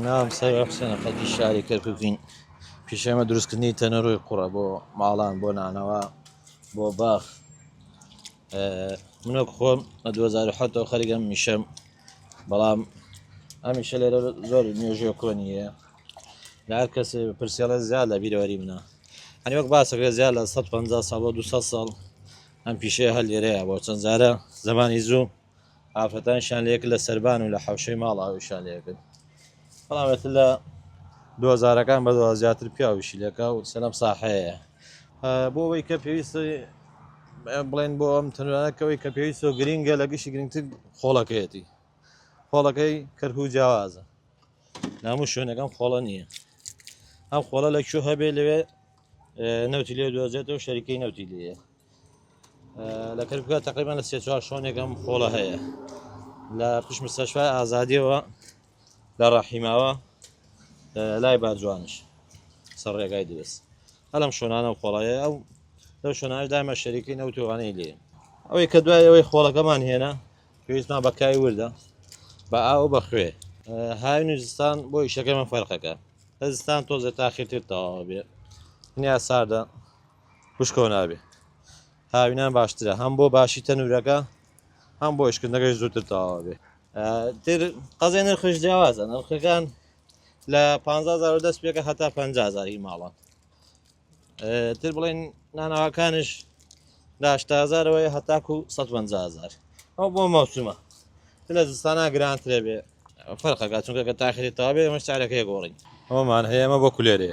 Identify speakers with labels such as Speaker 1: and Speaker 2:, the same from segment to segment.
Speaker 1: ناوم سەرە حسێنە خەڵکی شاری کەرککین پیشێمە دروستکردنی تەنەرۆی قوڕە بۆ ماڵان بۆ نانەوە بۆ باخ منۆک خۆم لە 2007 خەرگەم میشەم بەڵام ئەمیشە لێرە زۆر نوێژێ کۆنیە لە هەر کەس پرسیڵە زیاد لە بیرەوەری منە ئەنی وەک باسەکە زیاد لە 150 ساڵ بۆ 200 ساڵ ئەم پیشەیە هەر لێرەیە بۆ چەند زارە زمانی زوو ئافرەتانیشیان لە یەک لە سەربان و لە حەوشەی ماڵ ئاویشیان لێ کرد بەڵام ئێتر لە دوازارەکان بەدوا زیاتر پیاویشی لەکە و سەلەم ساحەیە بۆ ئەوەی کە پێویستە بڵێن بۆ ئەم تەنانەکەوەی کە پێویست و گرنگە لە گشتی گرنگتر خۆڵەکەیەتی خۆڵەکەی کەرکو و جیاوازە نامو شوێنەکەم خۆڵە نییە ئەم خۆڵە لە کوێ هەبێ لەوێ نەوتی لێ دۆزێتەوە شەریکەی نەوتی لێە لە کەرکوکە تقریبان لە سێ چوار شۆنێکم خۆڵە هەیە لە پشت مستەشفای ئازادیەوە لە ڕەحیماوە لای باجوانش سەر ڕێگای دروست هەلم شۆنانە و خۆڵەیە ئەو لەو شۆنانش دامە شەریکی نەوتوانەی لێ ئەوەی کە دوای ئەوەی خۆڵەکەمان هێنا پێویستمان بەکای وردە بە ئاو بە خوێ هاوین و زستان بۆ ئیشەکەمان فەرقەکە هەزستان تۆزە تاخیرتر تەواوە بێ نیا ساردە بشکۆ نابێ هاوینان باشترە هەم بۆ باشی تەنورەکە هەم بۆ ئشکردنەکەش زووتر تەواوە بێ تر قەزای نرخش جیاوازە نرخەکان لە 15 دەست پێکە هەتا 500زاری ماڵان تر بڵێن ناناواکانش لاشتازارەوەی هەتاکو 150زار ئەو بۆ مەوسمە لە زستانە گرانترە بێ فەرقەکە چونکە کە تاخێتەوە بێ مەش سارەکەی گۆڕین ئەومان هەیەمە بۆ کولێرێ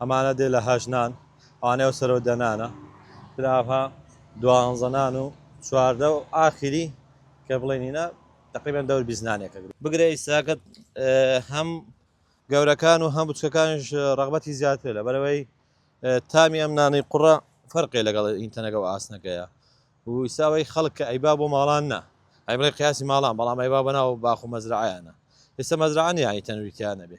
Speaker 1: ئەمانە دێ لە هەشت نان ئەوانەی ئەو سەرەو دە نانە تر ئاڤها دوانزە نان و چواردە و ئاخیری کە بڵێ نینە تقریبا دەور بیست نانێکە بگرە ئیساکەت هەم گەورەکان و هەم بچکەکانش ڕغبەتی زیاتر لە بەرەوەی تامی ئەم نانی قوڕە فەرقێ لەگەڵ ئینتەنەگە و ئاسنەکەیە وساوی خەڵک کە ئەیبا بۆ ماڵان نا ئەی بڵێ قیاسی ماڵان بەڵام ئەیبا بەناو باخ و مەزرعیانە ئێستا مەزرعانی یانی تەنویتیانە بێ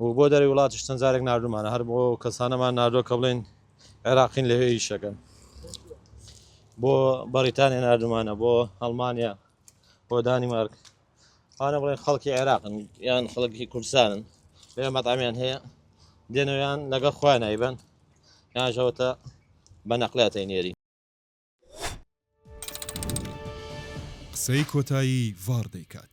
Speaker 1: و بۆ دەرەوی وڵاتیش چەند جارێک ناردوومانە هەر بۆ ئەو کەسانەمان ناردووە کە بڵێن عێراقین لەوێ ئیش دەکەن بۆ بەڕیتانیا ناردوومانە بۆ ئەڵمانیا بۆ دانیمارک ئەوانە بڵێن خەڵکی عێراقن یان خەڵکی کوردستانن لەوێ مەتامیان هەیە دێنەوەیان لەگەڵ خۆیان نایبەن یانژەوەتە بە نەقلاتەی نێری
Speaker 2: قسەی کۆتایی ڤاڕ دەیکات.